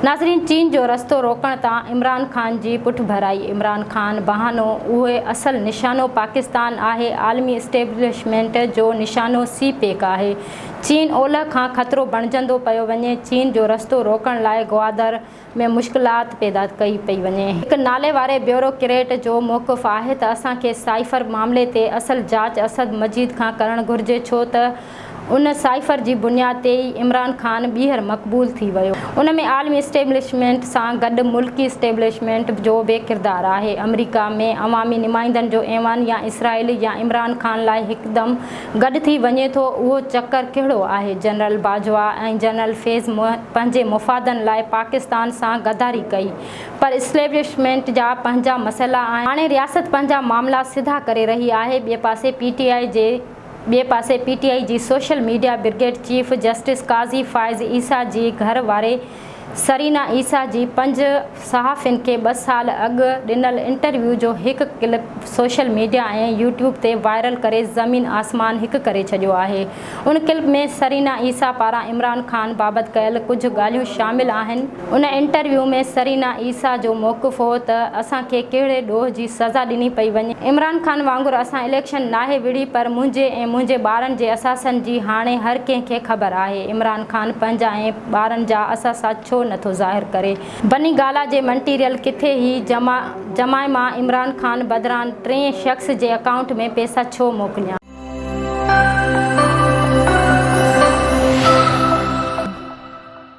ناظرين چين جو رستو روڪڻ تان عمران خان جي پٺڀرائي عمران خان بهانو اهي اصل نشانو پاڪستان آهي عالمي اسٽيبلشمينٽ جو نشانو سي پيڪ آهي چين اولهه کان خطرو بڻجندو پيو وڃي چين جو رستو روڪڻ لاء گوادر ۾ مشڪلات پيدا ڪئي پئي وڃي. هڪ ناليواري بيوروڪريٽ جو موقف آهي ته اسان کي سائفر معاملي تي اصل جاچ اسد مجيد کان ڪرڻ گهرجي ڇو ته ان سائفر جي بنياد تي ئي عمران خان ٻيهر مقبول ٿي ويو. ان ۾ عالمي اسٽيبلشمينٽ سان گڏ ملڪي اسٽيبلشمينٽ جو به ڪردار آهي. آمريڪا ۾ عوامي نمائندن جو ايوان يا اسرائيل يا عمران خان لاء هڪدم گڏ ٿي وڃي ٿو اهو چڪر ڪهڙو آهي؟ جنرل باجوا ۽ جنرل فيض پنهنجي مفادن لاء پاڪستان سان غداري ڪئي پر اسٽيبلشمينٽ جا پنهنجا مسئلا آهن. هاڻي رياست پنهنجا معاملا سڌا ڪري رهي آهي. ٻئي پاسي پي ٽي آء جي. ٻئي پاسي پي ٽي آء جي social media brigade chief justice Qazi Faez Isa جي گهر واري سرينا عيسيٰ جي پنج صحافين کي ٻه سال اڳ ڏنل انٽرويو جو هڪ ڪلپ سوشل ميڊيا ۽ يوٽيوب تي وائرل ڪري زمين آسمان هڪ ڪري ڇڏيو آهي ان ڪلپ ۾ سرينا عيسيٰ پاران عمران خان بابت ڪيل ڪجهه ڳالهيون شامل آهن ان انٽرويو ۾ سرينا عيسيٰ جو موقف هو ته اسان کي ڪهڙي ڏوهه جي سزا ڏني پئي وڃي. عمران خان وانگر اسان اليڪشن ناهي وڙهي پر منهنجي ۽ منهنجي ٻارن جي اثاثن جي هاڻي هر ڪنهن کي خبر آهي. عمران خان پنهنجا ۽ ٻارن جا اثاثا ڇو نه ٿو ظاهر ڪري. بني گالا جي منٽيريل ڪٿي هي جمع جمائي مان عمران خان بدران ٽئين شخص جي اڪائونٽ ۾ پيسا ڇو موڪليان.